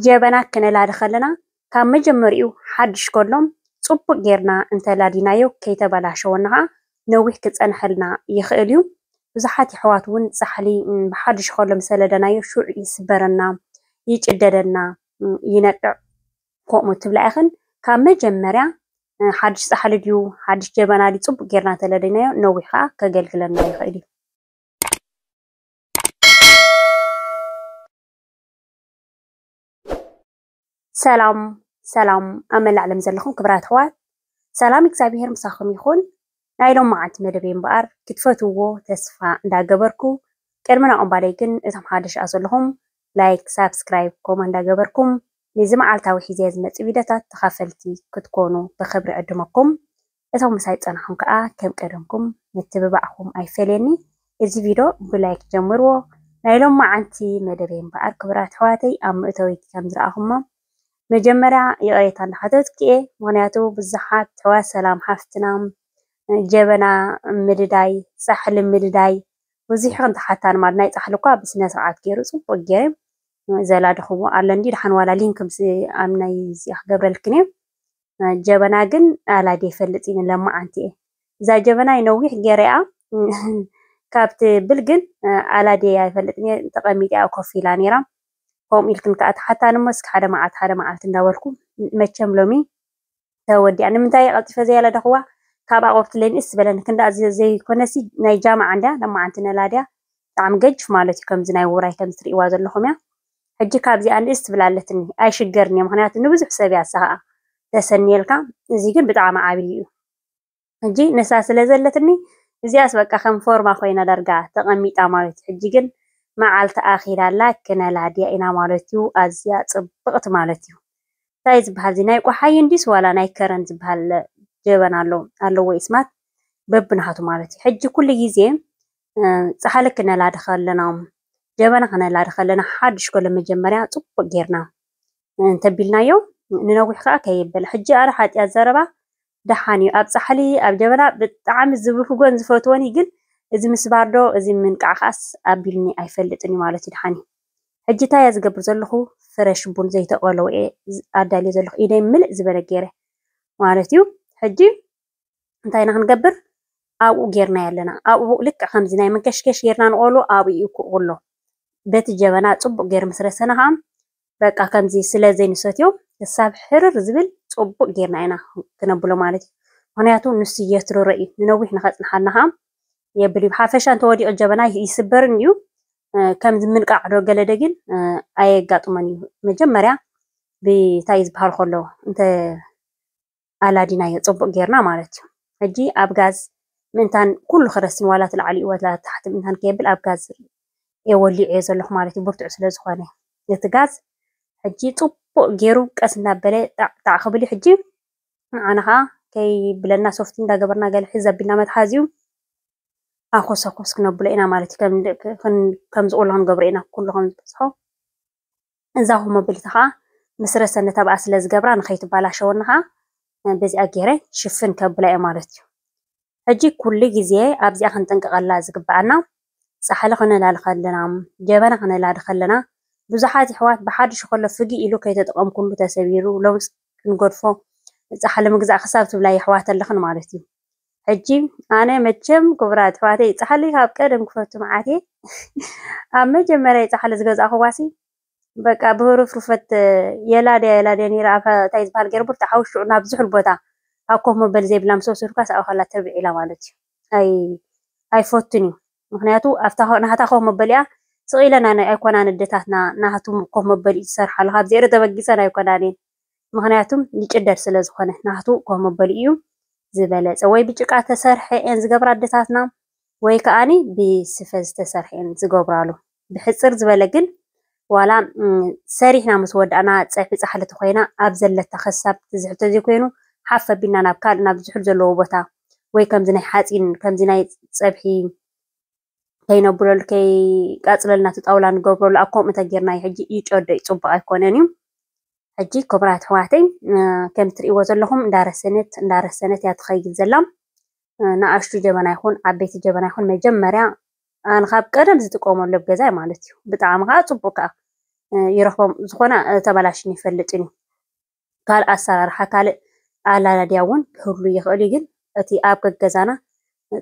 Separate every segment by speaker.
Speaker 1: ጀበና ክነላዲ ከለና ካብ መጀመርይኡ ሓዱሽ ከሎ ፅቡቕ ጌርና እንተላዲናዮ ከይተበላሸወና ከዓ ነዊሕ ክፀንሐልና ይኽእል እዩ። ብዙሓት የሕዋት እውን ፃሕሊ ብሓዱሽ ከሎ ምስ ለደናዮ ሽዑ ይስበረና፣ ይጭደደልና፣ ይነቅዕ ከምኡ ትብላ ኢኽን። ካብ መጀመርያ ሓዱሽ ፃሕሊ ድዩ ሓዱሽ ጀበና ድዩ ፅቡቕ ጌርና እንተለዲናዮ ነዊሕ ከዓ ከገልግለና ይኽእል እዩ። ሰላም ሰላም ኣብ መላእ ዓለም ዘለኹም ክብራት ኣሕዋት ሰላም እግዚኣብሄር ምሳኹም ይኹን። ናይ ሎም መዓልቲ መደበይ እምበኣር ክትፈትውዎ ተስፋ እንዳገበርኩ ቅድሚ ናኦም ባደይ ግን እቶም ሓደሽ ኣ ዘለኹም ላይክ ሳብስክራይብ ኮማ እንዳገበርኩም ነዚ መዓልታዊ ሒዘ ዝመጽእ ቪድዮታት ተኻፈልቲ ክትኮኑ ብኽብሪ ዕድመኩም። እቶም ምሳይ ዝጸናሕኩም ከኣ ከም ቀደምኩም ምትብባዕኩም ኣይፈለየኒ እዚ ቪዶ ብ ላይክ ጀምርዎ ናይ ሎማዓንቲ መደበይ እምበኣር ክቡራት ኣሕዋተይ ኣብ መእተዊት ከም ዝረኣኹሞ መጀመርያ ይቕሬታ እንዳሓተትኩ እየ ምኽንያቱ ብዙሓት ኣሕዋት ሰላም ሓፍትና ጀበና ምድዳይ ጻሕሊ ምድዳይ ብዙሕ ኢኽን ትሓታኒ ማለት ናይ ጻሕሊ እኳ ብስነ ስርዓት ገይሩ ጽቡቕ ገይረ ዘላድኽዎ ኣሎ እንዲ ድሓን ዋላ ሊንክ ምስ ኣብ ናይ እዚኣ ክገብረልክን እየ ጀበና ግን ኣላዲ ይፈልጥ እዩ ለማዓንቲ እየ እዛ ጀበናይ ነዊሕ ገይረያ ካብቲ ብል ግን ኣላዲ ኣይፈልጥ እየ ተቐሚጢኣ ኮፍ ኢላ ነይራ ከምኡ ኢልክን ከዓ ተሓታኒ እሞ እስኪ ሓደ መዓልቲ ሓደ መዓልቲ እንዳበልኩ መቸም ሎሚ ተወዲኣ ንምንታይ ቀልጢፈ ዘያለደኽዋ ካብ ኣቕርብቲ ለንእስ ዝበለን ክንዳ ዘይኮነሲ ናይ ጃማዓ እንድያ ለማዓንቲ ነላድያ ብጣዕሚ ገጅፍ ማለት እዩ ከምዚ ናይ ውራይ ከምዚ ትርእይዋ ዘለኹም እያ ሕጂ ካብዚኣ ንእስ ትብል ኣለትኒ ኣይሽገርንየ ምክንያቱ ንብዙሕ ሰብያ ንሳ ከኣ ተሰንየልካ እዚ ግን ብጣዕሚ ዓቢ ኢዩ ሕጂ ንሳ ስለ ዘለትኒ እዚኣስ በቃ ከም ፎርማ ኮይና ዳርጋ ተቀሚጣ ማለትዩ ሕጂ ግን መዓልቲ ኣኪላ ኣላ ክነላድያ ኢና ማለትዩ ኣዝያ ጽብቅቲ ማለትዩ ታይ ዝብሃል እዚ ናይ ቆሓይ እንድዩስ ዋላ ናይ ከረን ዝብሃል ጀበና ኣሎ ኣለዎ ኢስማት በብናቱ ማለትዩ ሕጂ ኩሉ ግዜ ፃሕሊ ክነላዲ ከለና ጀበና ክነላዲ ከለና ሓዱሽ ኮሎ መጀመርያ ፅቡቅ ጌርና እንተቢልናዮ ንነዊሕ ከዓ ከይብል ሕጂ ኣረ ሓጢኣት ዘረባ ደሓን እዩ ኣብ ፃሕሊ ኣብ ጀበና ብጣዕሚ ዝብህጎን ዝፈትዎን እዩ ግን እዚ ምስባር ዶ እዚ ምንቃዕ ከዓስ ኣቢልኒ ኣይፈልጥን እዩ ማለት እዩ ደሓን እዩ ሕጂ እንታይ እየ ዝገብር ዘለኹ ፍረሽ ቡን ዘይተቆለወ እየ ኣዳልዮ ዘለኹ ኢደይ ምልእ ዝበለ ገይረ ማለት እዩ ሕጂ እንታይ ኢና ክንገብር ኣብኡ ጌርናዮ ኣለና። ኣብኡ ልክዕ ከምዚ ናይ መንከሽከሽ ጌርና ንቆሉ ኣብኡ እዩ ክቁሎ። በቲ ጀበና ጽቡቅ ጌር ምስ ረሰና ከኣ በቃ ከምዚ ስለ ዘይንሰትዮ ክሳብ ሕርር ዝብል ጽቡቅ ጌርና ኢና ክነብሎ ማለት እዩ። ምክንያቱ ንሱ የትርሮ እዩ ንነዊሕ ንከጽንሓልና ከኣ የብል እዩ። ሓፈሻ እንተወዲቁ ጀበና ይስበርን እዩ ከምዚ ምንቃዕ ዶ ገለ ዶ ግን ኣየጋጥሞን እዩ። መጀመርያ ብታይ ዝበሃል ከሎ እንተ ኣላዲናዮ ጸቡቅ ጌርና ማለት እዩ ሕጂ ኣብ ጋዝ ምእንታን ኩሉ ክረስን ዋላ እቲ ላዕሊኡ ዋላ እቲ ታሕቲ ምእንታን ከየብል ኣብ ጋዝ እየ ወሊዐዮ ዘለኹ ማለት እዩ ብርቱዕ ስለ ዝኾነ እቲ ጋዝ ሕጂ ጽቡቅ ጌሩ ቀስ እናበለ ጣዕ ጣዕ ክብል እዩ ሕጂ ንዓና ከዓ ከይብለና ሶፍቲ እንዳገበርና ገለ ሕዝ ኣቢልና መትሓዚኡ ኣኾስ ኣኾስ ክነብሎ ኢና ማለት እዩ ከም ዝቁላ ክንገብሮ ኢና ኩሉ ከም ዝበዝሖ እዛ ኮሞብልቲ ከኣ ምስ ረሰ ነተብኣ ስለ ዝገብራ ንኸይትባላሸወኒ ከኣ በዚኣ ገይረ ሽፍን ከብላ እየ ማለት እዩ። ሕጂ ኩሉ ግዜ ኣብዚኣ ክንጥንቀቐላ ዝግብኣና ጻሕሊ ክነላሊ ከለና፣ ጀበና ክነላሊ ከለና ብዙሓት የሕዋት ብሓድሹ ከሎ ፍግእ ኢሉ ከይተጠቐምኩሉ ተሰቢሩ ሎምስ ክንገድፎ ጻሕሊ ምግዛእ ክሳብ ትብላ የሕዋት ኣለኽን ማለት እዩ። ሕጂ ኣነ መቸም ኩቡራት ኣሕዋተይ ጻሕሊ ካብ ቀደም ክፈቱ መዓት እየ ኣብ መጀመርያ ጻሕሊ ዝገዛእክዋሲ በቃ ብህሩፍሩፈት የላድያ የላድያ ነይረ ኣብ እንታይ ዝበሃል ገይረ ብርቱ ሓውሽዑ ናብ ዝሑል ቦታ ኣብ ኮፍ መበሊ ዘይብላ ምስ ወሰድኳስ ኣብኡ ከላ ትርብዒ ኢላ ማለት እዩ ኣይ ኣይፈቱን እዩ ምክንያቱ ኣብታ ናሃታ ኮፍ መበሊኣ ስቅ ኢለን ኣይኮናን ኣደታትና ናሃቱ ኮፍ መበሊኡ ዝሰርሓሉ ካብ ዜሮ ተበጊሰን ኣይኮናን እየን ምክንያቱም ይጭደድ ስለ ዝኮነ ናሃቱ ኮፍ መበሊኡ እዩ ዝበለጸ ወይ ብጭቃ ተሰርሐ እየን ዝገብራ ኣደታትና ወይ ከኣ ብስፈ ዝተሰርሐ እየን ዝገብራሉ ብሕጽር ዝበለ ግን ዋላ ሰሪሕና ምስ ወዳእና ጸብሒ ጻሕሊ ተኾይና ኣብ ዘለታ ከሳብ ትዝሕል ተዘይኮይኑ ሓፍ ኣቢልና ናብ ካልእ ናብ ዝሑል ዘለዎ ቦታ ወይ ከምዚ ናይ ሓጺን ከምዚ ናይ ጸብሒ ከይነብለሉ ከይቃጽለልና እቲ ጣውላ ንገብረሉ ኣብ ከምኡ ተጌርና እዩ ሕጂ ይጨዶ እዩ ጽቡቕ ኣይኮነን እዩ ሕጂ ክብራት ኣሕዋተይ ከም ትርእይዎ ዘለኹም እንዳረሰነት እንዳረሰነት እያ ትኸይድ ዘላ ንኣሽቱ ጀበና ይኹን ዓበይቲ ጀበና ይኹን መጀመርያ ንካብ ቀደም ዝጥቀመሉ ኣብ ገዛይ ማለት እዩ ብጣዕሚ ከዓ ፅቡቅ ከዓ ይረኽቦም ዝኾነ ተበላሽን ይፈልጥን እዩ ካልእ ኣሰራርሓ ካልእ ኣላላድያ እውን ክህሉ ይኽእል እዩ ግን እቲ ኣብ ገገዛና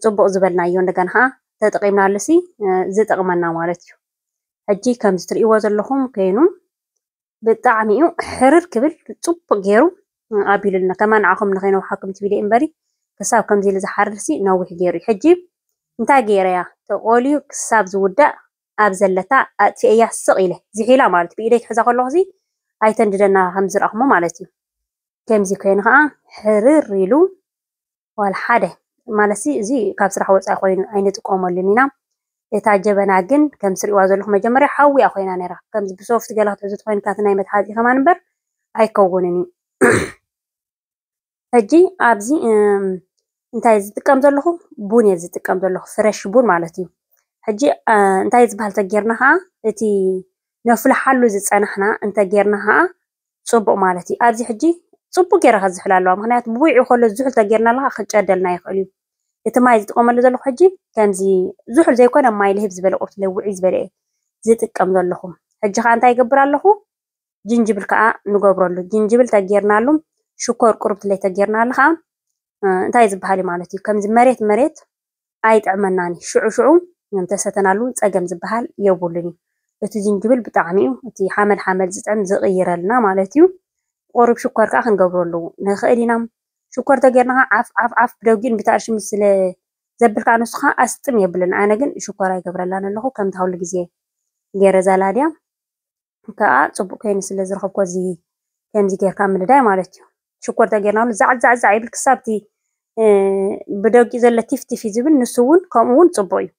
Speaker 1: ፅቡቅ ዝበልናዮ እንደገና ከዓ ተጠቂምናሉ ሲ ዝጠቅመና ማለት እዩ ሕጂ ከምዚ ትርእይዎ ዘለኹም ኮይኑ ብጣዕሚ እዩ ሕርር ክብል ፅቡቕ ገይሩ ኣቢሉልና ከማን ንዓኹም ንኸይነውሓኩም ትብል እየ እምበሪ ክሳብ ከምዚ ኢሉ ዝሓርርሲ ነዊሕ ገይሩ እዩ ሕጂ እንታይ ገይረያ ተቖልዩ ክሳብ ዝውዳእ ኣብ ዘለታ ኣጥፊኤያ ስቕ ኢለ ዝሒላ ማለት ብኢደይ ክሕዛ ከለኹሲ ኣይተንድደና ከም ዝረኣኹሞ ማለት እዩ ከምዚ ኮይኑ ከዓ ሕርር ኢሉ ዋላ ሓደ ማለትሲ እዚ ካብ ስራሕ ወፃኢ ኮይኑ ኣይንጥቀመሉን ኢና። እታ ጀበና ግን ከምዚ ትሪእዋ ዘለኹም መጀመርያ ሓዊ እያ ኮይና ነይራ። ከምዚ ብሶፍቲ ገለ ክትሕዙ ትኾይንካ እቲ ናይ መትሓዚ ከማን እምበር ኣይከውንን እዩ። ሕጂ ኣብዚ እም፣ እንታይ እየ ዝጥቀም ዘለኹ ቡን እየ ዝጥቀም ዘለኹ ፍረሽ ቡን ማለት እዩ። ሕጂ እ፣ እንታይ እዩ ዝበሃል ተጌርና ከዓ እቲ ነፍልሓሉ ዝጸናሕና እንተ ጌርና ከኣ ጽቡቕ ማለት እዩ። ኣብዚ ሕጂ ጽቡቕ ጌራ ክትዝሕል ኣለዋ ምኽንያቱ ብዊዑ ከሎ ዝሑል ተጌርናሉ ከኣ ክጨደልና ይኽእል እዩ። እቲ ማይ ዝጥቐመሉ ዘለኹ ሕጂ ከምዚ ዝሑል ዘይኮነ ማይ ልህብ ዝበለ ቁርትለ ውዕይ ዝበለ እየ ዝጥቀም ዘለኹ። ሕጂ ከኣ እንታይ ይገብር ኣለኹ ጅንጅብል ከኣ ንገብረሉ ጅንጅብል ተጌርናሉ ሽኮር ቁርብትለ ተጌርናሉ ከኣ እንታይ ዝብሃል እዩ ማለት እዩ ከምዚ መሬት መሬት ኣይጥዕመናን እዩ ሽዑ ሽዑ እንተሰተናሉ ጸገም ዝበሃል የቡሉን እዩ እቲ ጅንጅብል ብጣዕሚ እዩ እቲ ሓመል ሓመል ዝጥዕም ዝቅይረልና ማለት እዩ ቁሩብ ሽኮር ከኣ ክንገብረሉ ንክእል ኢና ሽኮር ተገይርና ከኣ ዓፍ ዓፍ ዓፍ ብደጊኡን ብታእርሽን ምስ ስለ ዘብል ከኣ ንሱ ከኣ ኣስጥም የብለንን ኣነ ግን ሽኮር ኣይገብረላን ኣለኩ ከምታ ኩሉ ግዜ ገይረ ዛላድያ ከኣ ጽቡቅ ኮይኑ ስለ ዝረኸብኩዎ እዚ ከምዚ ጌርካ ምንዳይ ማለት እዩ ሽኮር ተጌርናሉ ዛዕ ዛዕ ዛዕ ይብል ክሳብ እቲ ብደጊኡ ዘሎ ቲፍ ቲፍ እዩ ዝብል ንሱ እውን ከምኡ እውን ጽቡቅ እዩ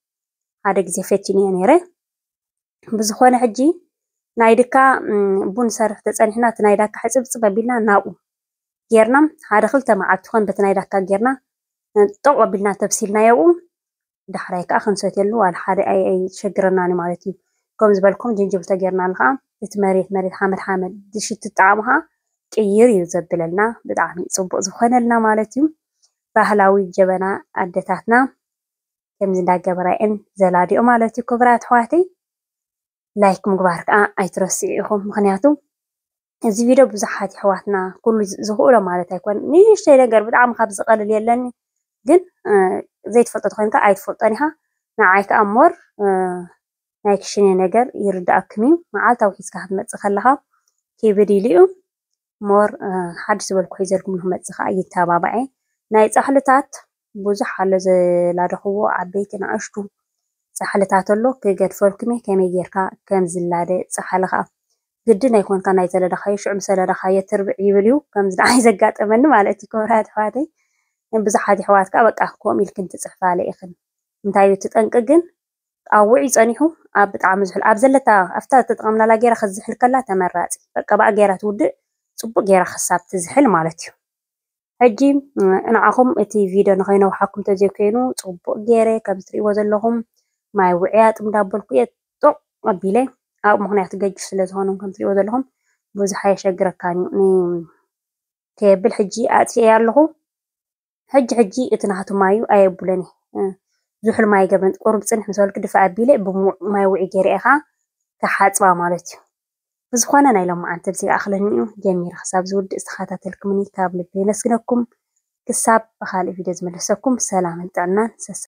Speaker 1: ሓደ ግዜ ፈቲንዮ ነይረ ብዝኾነ ሕጂ ናይ ድካ ቡን ሰርሕ ተጸኒሕና እቲ ናይ ዳካ ሕጽብጽብ ኣቢልና ናብኡ ጌርና ሓደ ክልተ መዓልቲ ኮን በቲ ናይ ዳካ ጌርና ጠቕ ኣቢልና ተብሲልናዮ ኣብኡ ዳሕራይ ከኣ ክንሰትየሉ ዋላ ሓደ ኣይሸግረናን እዩ ማለት እዩ። ከም ዝበልኩም ጅንጅብል ተጌርናሉ ከኣ እቲ መሬት መሬት ሓመድ ሓመድ ዝሽት ጣዕሙ ከኣ ቅይር እዩ ዘብለልና ብጣዕሚ እዩ ጽቡቅ ዝኾነልና ማለት እዩ። ባህላዊ ጀበና ኣደታትና ከምዚ እንዳገበራ እየን ዘላድኦ ማለት እዩ ክቡራት ኣሕዋተይ። ላይክ ምግባር ክኣ ኣይትረስዑ ኢኩም ምክንያቱ እዚ ቪድዮ ብዙሓት የሕዋትና ኩሉ ዝክእሎ ማለት ኣይኮነን ንእሽተይ ነገር ብጣዕሚ ካብ ዝቀልል የለን ግን ዘይትፈልጦ ተኮይንካ ኣይትፈልጦን ኢካ ንዓይ ክኣ ሞር ናይ ክሽነ ነገር ይርድኣክን እዩ መዓልታዊ ሒዝካ ክትመጽእ ከለካ ክብድ ኢሉ እዩ ሞር ሓድሽ ዝበልኩ ሒዘልኩም ንክመጽ ከኣ ይተባባዔ ናይ ጻሕልታት ብዙሕ ኣሎ ዘላደኽዎ ዓበይቲ ንኣሽቱ ጻሕልታት ኣሎ ክገድፈልኩም እየ ከመይ ጌርካ ከም ዝላደ ጻሕሊ ከኣ ግድን ኣይኮንካ ናይ ዘለዳኻዮ ሽዑ ምስ ዘለዳኻዮ ትርብዕ ይብል እዩ ከምዚ ንዓይ ዘጋጠመኒ ማለት እዩ ክብራት ኣሕዋተይ ብዙሓት የሕዋት ከኣ በቃ ከምኡ ኢልክን ትጽሕፋለ ኢኽን እንታይ እዩ እቲ ጠንቂ ግን ኣብ ውዑይ ጸኒሑ ኣብ ብጣዕሚ ዝሑል ኣብ ዘለታ ኣብታ ዝተጠቐምናላ ጌራ ክትዝሕል ከላ ተመራጺ በቃ ባዕ ጌራ ትውድእ ጽቡቕ ጌራ ክሳብ ትዝሕል ማለት እዩ። ሕጂ ንዓኹም እቲ ቪድዮ ንኸይነውሓኩም ተዘይኮይኑ ጽቡቕ ጌረ ከምዚ ትርእይዎ ዘለኹም ማይ ውዕያ ጥም ዳበልኩ እየ ጦቕ ኣቢለ ኣብ ምኽንያቱ ገጅፍ ስለ ዝኾኑ ከም ትርእይዎ ዘለኹም ብዙሕ ኣየሸግረካን እዩ ን ከየብል ሕጂ ኣጥፊኤያ ኣለኹ። ሕጂ ሕጂ እቲ ናህቱ ማዩ ኣየቡለን'የ ዝሑል ማይ ገበንት ቁሩብ ጽንሕ ምስ በልኩ ድፍእ ኣቢለ ብምዉቕ ማይ ዉዑይ ገይረ'የ ከኣ ክሓጽባ ማለት'ዩ ብዝኾነ ናይ ሎምዓንቲ እብዚ ይኣኽለኒ'ዩ ጀሚረ ክሳብ ዝዉድእ ዝተኻታተልክምኒ ካብ ልቢ የመስግነኩም ክሳብ ብኻልእ ቪድዮ ዝምለሰኩም ሰላምን ጥዕናን ሰስኑ።